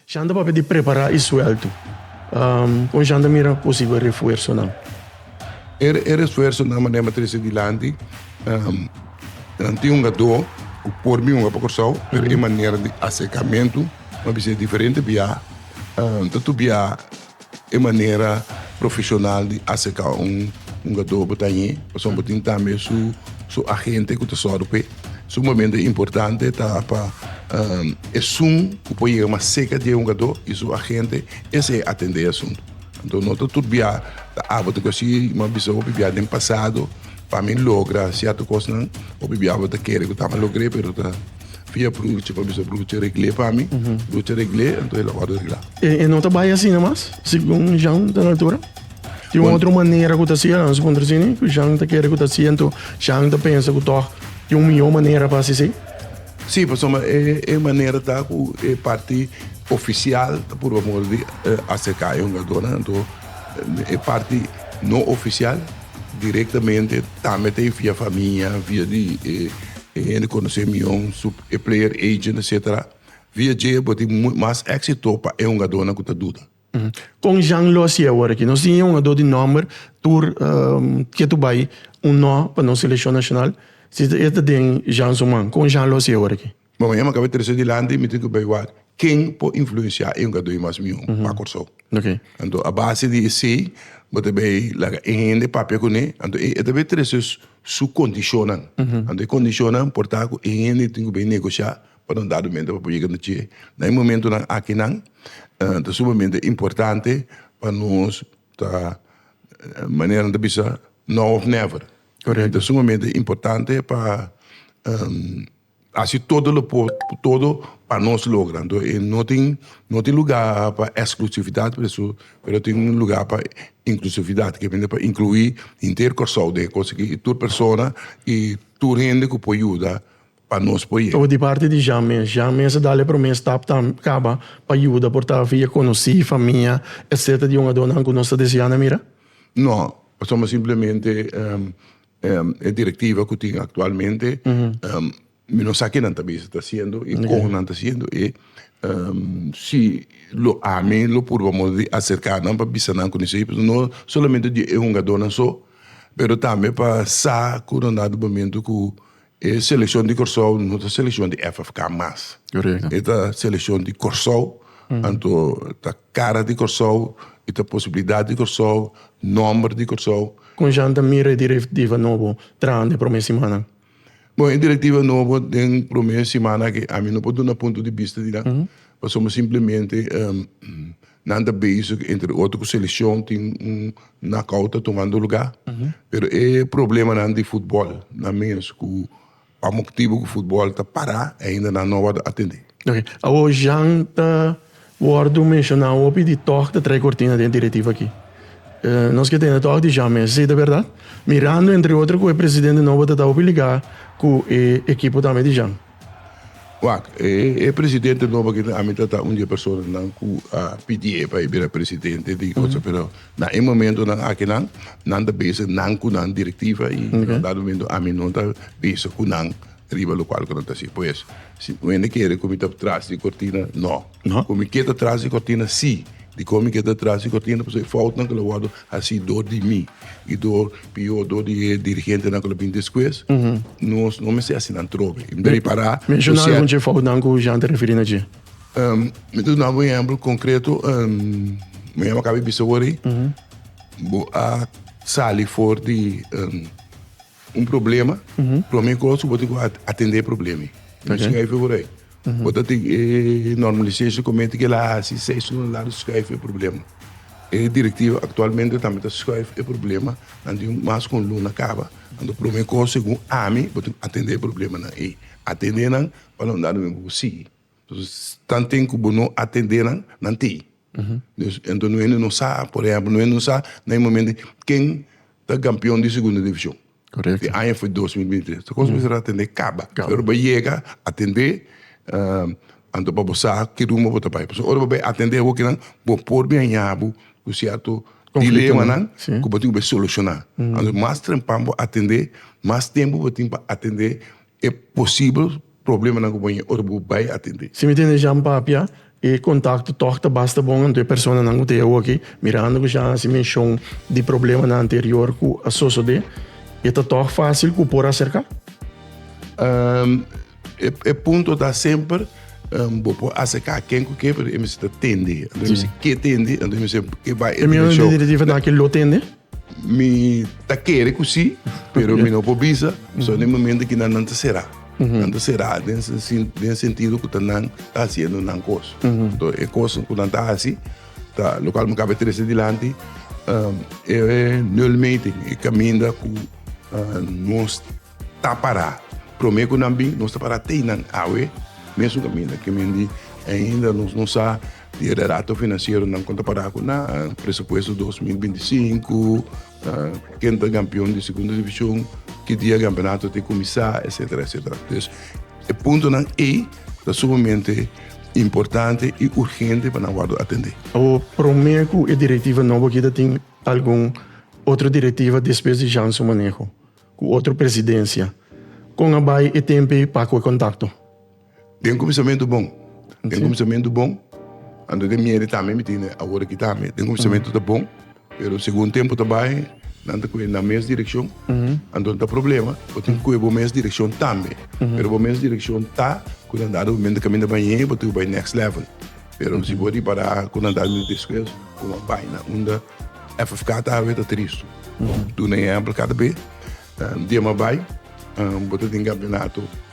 Jan ta papia di prepará e suelto. Kon Jan ta mira posibel refuersonan? E refuersonan manera mi ta dise dilanti, nan tin un hugadó ku por miunga pa Kòrsou, pero e manera di aserkamentu, mi a bisa diferente biaha ta tubiá. E manera profesional di aserka un hungadó bo ta ñe, pasobra bo tin tambe su agente ku ta sòru p'e. Sumaménte importante ta pa esun ku por yega mas serka di e hungadó i su agente esei a atendé e asuntu. Anto no ta tur bia ta abo ta kasi bo bisa hopi bia den pasado pa mi logra sierto kosnan, hopi bia bo ta kere ku tambe logr'é pero ta. via brucha pa bisa brucha regle pa mi brucha regle enton el a orde regla e no ta bai asina mas segun Jean ta na altura tin un otro manera ku ta hasiel nan suponer asina ku Jean ta kere ku ta hasi enton Jean ta pensa ku tok tin un mihó manera pa hasi si si pasobra e manera ta ku e parti ofisial ta purba moda di aserka e hungadónan enton e parti no ofisial Directamente tambe ta e via famia, via di e hende conoce mi yon, su e player agent etc. Via dje bo tin mas exito pa e hungadornan cu ta duda. Con Jean Losi awor aki? Nos tin e hungador di nomber tur ke tur bay un no pa nos seleccion nacional si e ta den Jean su man. Con Jean Losi awor aki? Bo mi e maka trece di lanti mi tin ku bay wak ken por influenciá e hungadó i mas mió pa Kòrsou. Anto a base di esei bo ta bay laga e hende papia kuné anto e ta bay trece su kondishonnan anto e kondishonnan por ta ku e hende tin ku bay negoshiá pa na un dado momento pa por yega na tjé na e momentunan akinan ta sumamente importante pa nos ta manera nan ta bisa now of never ta sumamente importante pa. Hasi todo lo por por todo pa nos logra anto e no tin no tin luga pa exclusividad por eso pero tin un luga pa inclusividad que viene pa inclui henter Kòrsou den e cos aki y tur persona y tur hende cu por yuda pa nos por yega. Di parti di Jean mes Jean mes a dal e prome stap tambe caba pa yuda por ta via conoci famia etcetera di un adonan cu nos ta desea na mira? No pasobra simplemente E directiva cu tin actualmente mi no sa ki nan ta bisa ta haciendo y con nan ta haciendo y si lo ami lo purbamos di acerca nan pa bisa nan con esey pasobra no solamente di e hungadornan so pero tambe pa sa cu nan na di momento cu E selekshon di Kòrsou no ta selekshon di FFK mas. Korekto. E ta selekshon di Kòrsou, anto ta kara di Kòrsou, e ta posibilidat di Kòrsou, nòmber di Kòrsou. Kon Jean ta mira e direktiva nobo traha den e promé simannan? Bon, e direktiva nobo den promé simannan akí, ami no por duna punto di bista di nan, pasobra simplemente Nan ta bezig entre otro cu seleccion tin un knockout ta tomando lugar pero e problemanan di futbol nan mes cu pa moctibo cu futbol ta para ainda nan no a wordo atende. Ok, awo Jean ta wordo menciona hopi di tog ta trae cortina den e directiva aki. Nos ke tende tog di Jean mes, esey ta berdad? Mirando entre otro cu e presidente nobo ta ta hopi liga cu e ekipo tambe di Jean. Wak, e presidente nobo aki den ami ta ta un di e personanan ku a pidi e pa e bira presidente di Kòrsou, pero na e momentonan akinan nan ta bezig nan ku nan direktiva i na un dado momento ami no ta bezig ku nan riba lokual ku nan ta hasi. Pues, si wende kere ku mi ta tras di kortina, nò. No. Cu mi kier ta tras di cortina? Sí. Dicor mi kier ta tras di cortina? Pasobra e foutnan cu lo wordo haci dor di mi y dor, pior, dor di e dirigentenan cu lo bin despues, nos no mester hacinan atrobe. Mi ta repara cu cier-. Menciona algun dje foutnan cu Jean ta referi na dje. Mi ta duna bo un ehempel concreto. Mañana bo a caba e bisa awor ei. Bo a sali for di. Un problema, prome cos bo tin cu atende e problema ey. Nan schuif e wor ey. Bo ta tin e normalization committee que el a haci seis horas lado schuif e problema. E directiva actualmente tambe ta schuif e problema nan tin mas cu un luna caba. Anto prome cos segun ami bo tin cu atende e problemanan ey. Atende nan pa lo nan dado men bo por sigui. Tanten ku bo no atendé nan, nan tei. Entonces, no hende no sa, por ehemplo, no hende no sa na e momento ei ken ta kampeon di Segunda Division. E aña foi dos mil binti tres. Ta kos mester atendé kaba. Ora bo yega atendé, anto pa bo sa ke ruma bo ta bai. Pasobra ora bo bai atendé awokenan, bo por biaña bo ku sierto dilemanan ku bo tin ku bai solushoná. Anto mas temprano bo atendé, mas tempu bo tin pa atendé e posibel problemanan ku bo tin ora bo bai atendé. Si mi tende Jean papia, e kontakto tòg ta basta bon anto e personanan ku ta e awoki, mirando ku Jean a hasi menshon di problemanan anterior ku a sosodé, e ta tòg fásil ku por aserká? E punto ta semper bo por aserká ken ku ke pero e mester tende, anto e mester ke tende, anto e mester ke bai e dimensho. E mion di Direktiva ta na ke lo tende? Mi ta kere ku sí, pero mi no por bisa, pasobra den e momentu ki nan nan ta será. Nan ta será den e sentido ku ta nan ta hasiendo nan kos. Enton e kos ku nan ta hasi ta lokal mi kaba trese dilanti e nulmeten, e kaminda ku nos ta pará. Promé ku nan bin nos ta pará tei nan awe mesun kaminda. Ke men di ainda nos no sa. Di e dato financieronan con ta para cu na presupuesto dos mil binti i sinku, ken ta campeon di Segunda Division, ki dia e campeonato ta e cuminsa, etcetera, etcetera. Entonces, e puntonan ey ta sumamente importante y urgente pa nan wordo atende. Abo prome cu e directiva nobo aki ta tin algun otro directiva despues di Jean su maneho, cu otro presidencia. Con a bay e tempo ey pa cu e contacto? Den kuminsamentu bon. Den kuminsamentu bon. Anto den mieri tambe mi tende awor aki tambe. Den kuminsamentu ta bon, pero segun tempu ta bai nan ta kue na mes direkshon. Anto no ta problema, bo tin kue bo mes direkshon tambe. Pero bo mes direkshon ta ku nan ta argumento di kaminda bañé bo tin ku bai next level. Pero si bo ripará ku nan ta argumento despues kon a bai na unda FFK ta awe ta tristu. Duna ehèmpel kada be dje mi a bai bo ta tin kampeonato.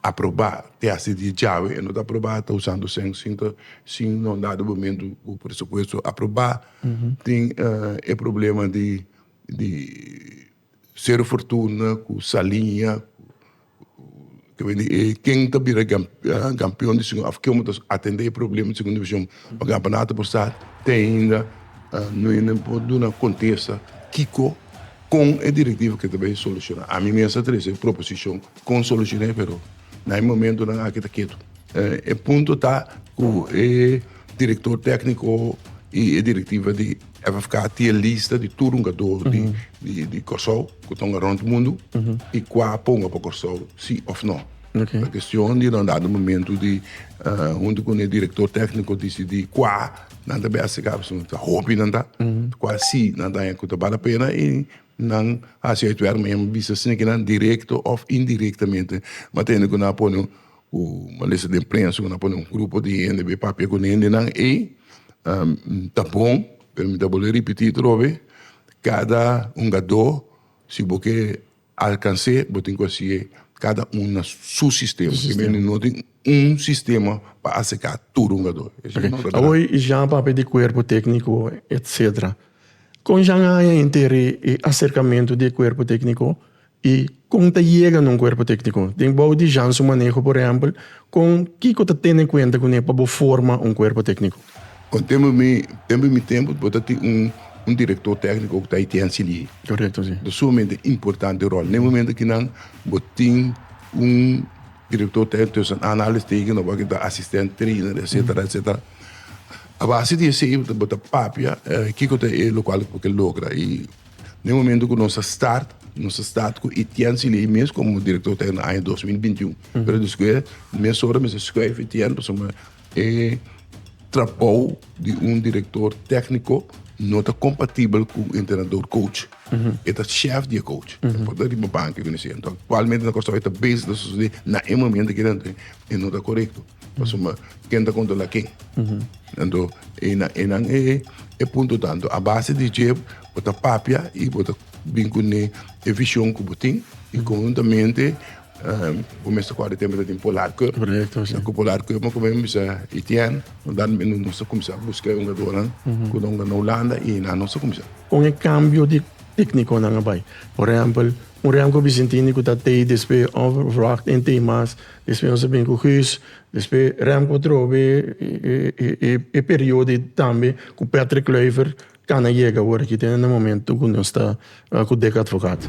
Aprobá te hasi di djawe, e no ta aprobá ta usando sen sin ta sin no da dobomentu ku presupuesto aprobá. Tin e problema di di Sero Fortuna ku Saliña ku ta bin di e ken ta bira gampion di Segunda afko mi ta atendé e problema di Segunda Divishon pa Gampanatu por sa te ainda no e nan por duna kontesta kiko kon e direktiva ke ta bai solushoná. Ami mes a trese proposishon. Kon solushoné pero na e momentonan aki ta ketu. E punto ta ku e direktor tékniko i e direktiva di FFK tin e lista di tur hungadó di Kòrsou ku ta hunga rònt mundu i kua por hunga pa Kòrsou si òf nò. Ta kestion di nan dado momento di huntu ku e direktor tékniko disidí kua nan ta bèstigá pasobra ta hopi nan ta kua si nan ta haña ku ta bale pena i Nan a hasi oit wèk, mi a bisa si kinan direkto òf indirektamente. Mi a tende ku nan a pone ku malesa den prensa, ku nan a pone un grupo di hende bai papia ku niño di nan. Ei ta bon, pero mi ta bolbe ripití atrobe, kada hungadó, si bo ke alkans'é, bo tin ku hasié kada un na su sistema, pasobra no tin un sistema pa aseká tur hungadó. Awor i Jean papia di kuerpo tékniko, etsetera. Kon Jean a haña enter'é e aserkamentu di e kuerpo tékniko i kon ta yega na un kuerpo tékniko? Den bou di Jean su maneho, por ehèmpel, kon kiko ta tene kuenta kuné pa bo forma un kuerpo tékniko? Kon tempu mi tempu mi tempu bo ta tin un un direktor tékniko ku ta haitian si lihi. Korekto si. Ta sumamente importante ròl. Na e momento ki nan bo tin un direktor tékniko, tussen anhalingstekens, nòmber wak e ta asistènt trainer, etsetera, etsetera. A base di esei bo ta papia kiko ta e lo kual bo ke logra i na e momento ku nos a start nos a start ku Etienne Silei mes komo direktor tèkniko na aña dos mil binti un pero despues mes ora mes a skuif Etienne pasobra e trabou di un direktor tèkniko no ta kompatibel ku un entrenador coach e ta shèf di e coach e por ta riba bank e kumins'é aktualmente na Kòrsou e ta bes di ta sosodé na e momento aki e no ta korekto. Pasobra ken ta controla ken. Anto e na e nan e e punto ta anto a base di dje bo ta papia y bo ta bin cu ne e vision cu bo tin y conjuntamente um bo mester coge tempo ta tin polar cup na cu polar cup bo cumen bisa Etienne no dal mi nos ta cuminsa busca e hungadornan cu ta hunga na Hulanda y enan nos ta cuminsa. Con e cambio di tecniconan a bay por ehempel un rem cu Vicentini cu ta tey despe of Wracht en tey mas Despues nos a bini ku Guus, despues Remco atrobe e perio di tambe ku Patrick Kluiver kan a yega awor aki te na momento ku nos ta ku Dick Advocaat.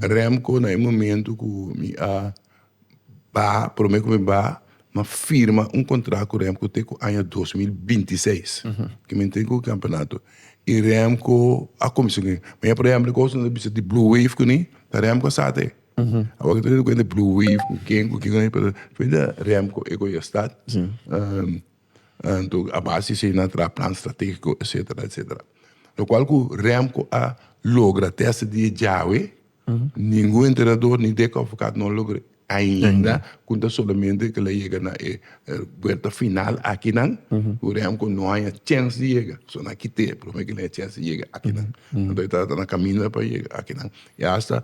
Remco na e momento cu mi a ba prome cu mi ba ma firma un contract cu Remco te cu aña dos mil binti seis cu mi tin cu e campeonato y Remco a cuminsa cu mi ma ya por ejemplo e cos no ta bisa di Blue Wave cu ni ta Remco a sa te awor cu ta tene cuenta di Blue Wave cu ken cu ken pero Remco e cu a start. Anto a base si nan a traha plan strategico etcetera etcetera lo cual cu remco a logra te hasta dia djawe ningun entrenador ni Dick Advocaat no a logra ainda cu ta solamente kel a yega na e buelta final akinan cu remco no a haya chens di yega so nan a kite promer kilen a haya chens di yega akinan anto e ta na caminda pa yega akinan y hasta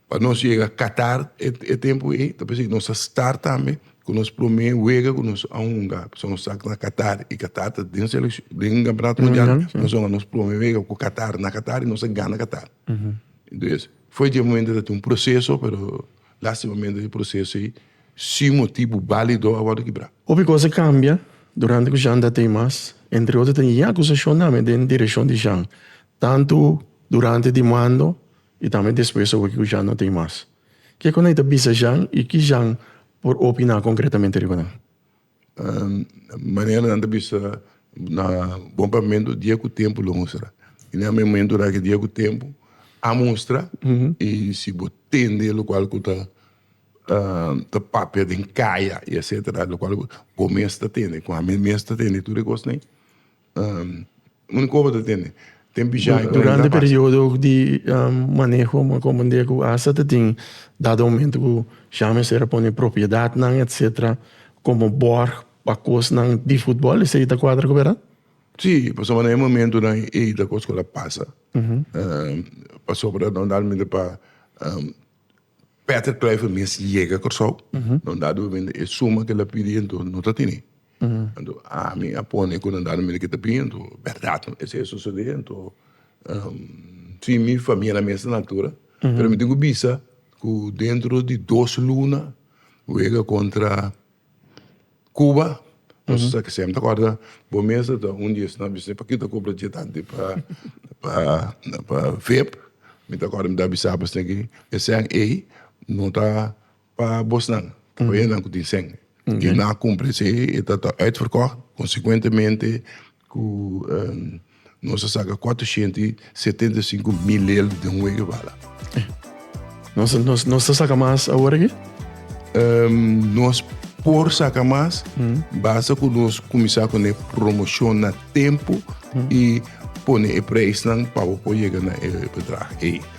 Pa nos yega Qatar e tempu ei ta pasobra nos a start tambe ku nos promé wega ku nos a hunga pasobra nos sa na Qatar i Qatar ta den den Campeonato Mundial nos a hunga nos prome wega ku Qatar na Qatar i nos a gana Qatar entonces foi dje momento ta tin un proceso pero lastimamende e proceso ei sin motibu balido a wòrdu kibra. Hopi kos a kambia durante ku Jean ta tei mas entre otro ta tin e akuzashon tambe den direkshon di Jean tantu durante di mando. I tambe despues a wiki ku Jan no tin mas. Ke ku Ney ta bisa Jan i ki Jan por opiná konkretamente riba nan? Manera nan ta bisa na Bon Pavimento dia ku tempu lo mustra. I na e momentu na ke dia ku tempu a mustra i si bo tende lokual ku ta ta papia den kaya i etsetera lokual bo mes ta tende ku ami mes ta tende tur e kos ney. Durante e periodo di maneho mi a comprende cu hasta ta tin dado momento cu ya mester a pone propiedadnan etcetera como borg pa cosnan di footbal esey ta cuadra cu verdad? Si, pasobra na e momentonan ey ta cos cu lo a pasa pasobra normalmente pa. Patrick Kluivert mes yega Kòrsou, nan da dupamento, e suma ku el a pidi anto no ta tene. Anto ami a pone ku nan da dupamento ke ta bin, anto bèrdat no esei a sosodé, anto si mi famia na mes na altura, pero mi tin ku bisa ku dentro di dos luna wega kontra. Cuba nos ta siempre ta corda bo mes ta un di esnan bisita paki ta compra dje tanti pa pa vep me ta corda me ta bisa bo esnan ki esnan ey no ta pa bo esnan ta pa e nan cu tin shen y na cumpli si e ta ta uitverkocht consecuentemente. Ku nos a saka kuatrushientu i setenta i sinku milel den un wega bala. Nos ta saka mas awor aki? Nos por saka mas, basta ku nos kuminsá ku e promoshon na tempu i pone e preisnan pa bo por yega na e bedrag ei.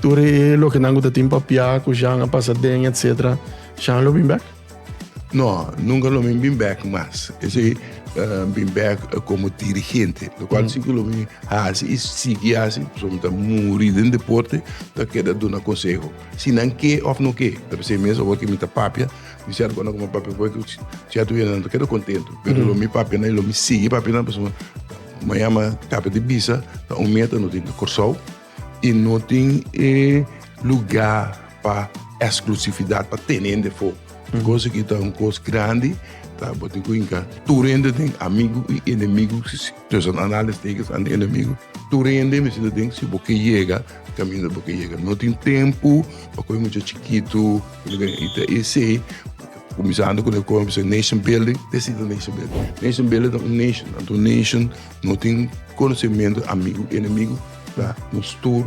Tur e loke nan ku ta tin papia ku Jean a pasa den etc. Jean lo bin bek? No, nunka lo bin bek mas. Esei uh, bin bek komo dirigente, lo kual si ku lo bin hasi i sigui hasi, pasobra mi ta muri den deporte, ta keda duna konseho. Si nan ke òf no ke. Ta p'esei mes awor ke mi ta papia, mi ser kònde ku mi papia poi ku sierto hende nan ta keda kontentu. Pero lo mi papia nan i lo mi sigui papia nan pasobra mañana, kap'e di bisa, ta un meta no tin na Kòrsou, I no tin e lugá pa eksklusividat, pa tene hende afó. E kos aki ta un kos grandi, ta bo tin ku hinka tur hende den, amigu i enemigu, tussen aanhalingstekens enemigu. Tur hende mester ta den si bo ke yega kaminda bo ke yega. No tin tempu pa kohe mucha chikitu, i ta esei, kuminsando ku loke kòmensá nation building, despues ta nation building. Nation building ta un nation, anto un nation. No tin konosementu amigu enemigu, ta nos tur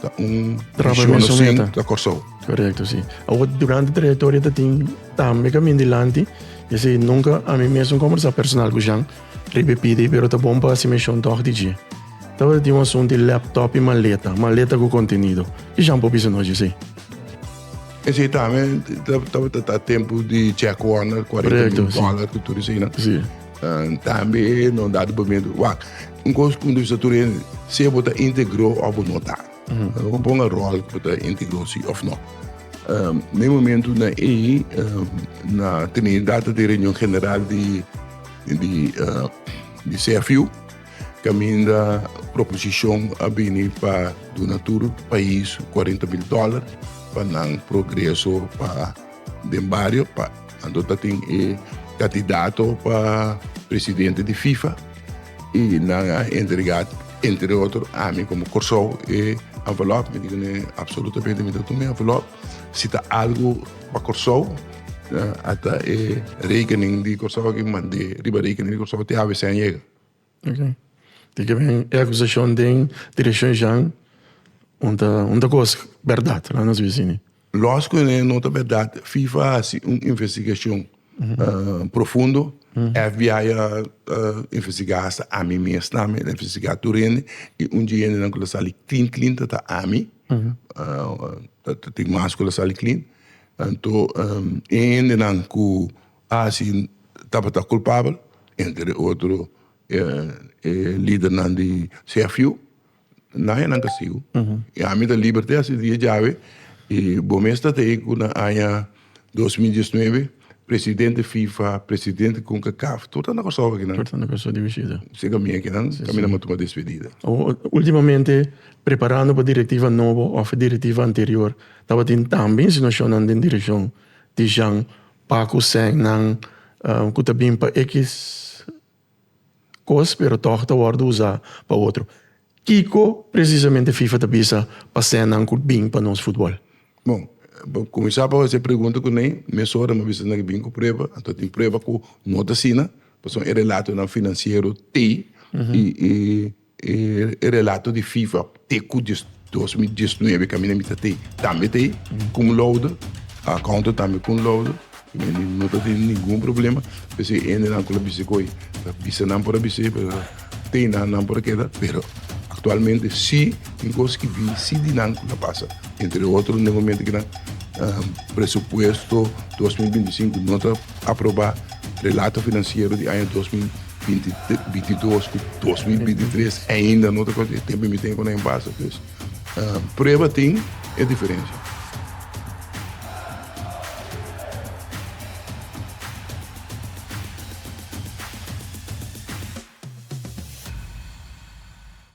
ta un Traba misión misión sin eta. ta Kòrsou. Correcto, sí. Ahora, durante trayectoria te tin tambe camin dilanti. Y así, nunca a mí mesmo conversa personal con Jean, riba PD, pero ta bon pa hacer mención toch di dje. Tabata tin un asunto di laptop y maleta, maleta cu contenido. Ki Jean por bisa nos dje esey? Esei tambe ta- tabata ta tempu di check warrant, 40 Correcto, mil sí. dólar, cu tur eseinan. Sí. Tambe no da dupamento. Wak, un kos punto vista tur hende, sea bo ta integro of bo no ta. Bo por un rol ku bo ta integro si of no. Na e momento na ei na tene data di reunion general di di di CFU kaminda proposishon a bini pa duna tur pais kuarenta mil dòler pa nan progreso pa Den bario pa anto ta tin e candidato pa presidente di FIFA y nan a entrega entre otro ami como Corsou e envelop mi dico ne absolutamente mi ta tuma e envelop si ta algo pa Corsou ata e rekening di Corsou aki mande riba rekening di Corsou te ABC a yega. Tin ke bini e akusashon den direkshon Jan, un ta un ta kos bèrdat na nos bisini. Lòs ku e no ta bèrdat, fifa a hasi un investigashon profundo, FBI a investigá asta ami mes ta ami ta investigá tur hende i un di e hendenan ku lo sali klin klin ta ta ami, tin mas ku lo sali klin, anto e hendenan ku Asi tabata culpabel, entre otro e lidernan di CFU, nan haya nan castigo. Y ami ta liberte hasta e dia djawe y bo mes ta tei cu na aña dos mil diesnuebe presidente fifa, presidente concacaf, tur ta na Curaçao akinan. Tur ta na Curaçao di bishita. Seca mi akinan, caminda mos tuma despedida. Ultimamente, preparando pa directiva nobo of directiva anterior, tabatin tambe insinuacionnan den direccion di Jean Pa ku sennan ku ta bin pa e kis kos pero tòg ta wòrdu usá pa otro. Kiko presisamente Fifa ta bisa pa sennan ku bin pa nos futbòl? Bon, pa kuminsá pa hasi e pregunta ku Ney, mesora mi a bisa nan ku bin ku prueba, anto a tin prueba ku no ta asina, pasobra e relatonan finansiero t'ei i. E relato di FIFA te ku di dos mil diesnuebe ku a mina mi ta tei tambe ta e cum laude accountant tambe cum laude mi no ta tene ningun problema pues e hendenan ku lo bisa ku oi ta bisa nan por a bisa e pero tei nan nan por a keda pero aktualmente si tin kos ku bin si di nan ku ta pasa entre otro na e momento ku nan presupuesto dos mil binti sinku no ta aproba relato finansiero di aña dos mil. bintidos ku dos mil binti tres ainda no ta kos e tempu mi tene ku na en basa pues prueba tin e diferensha.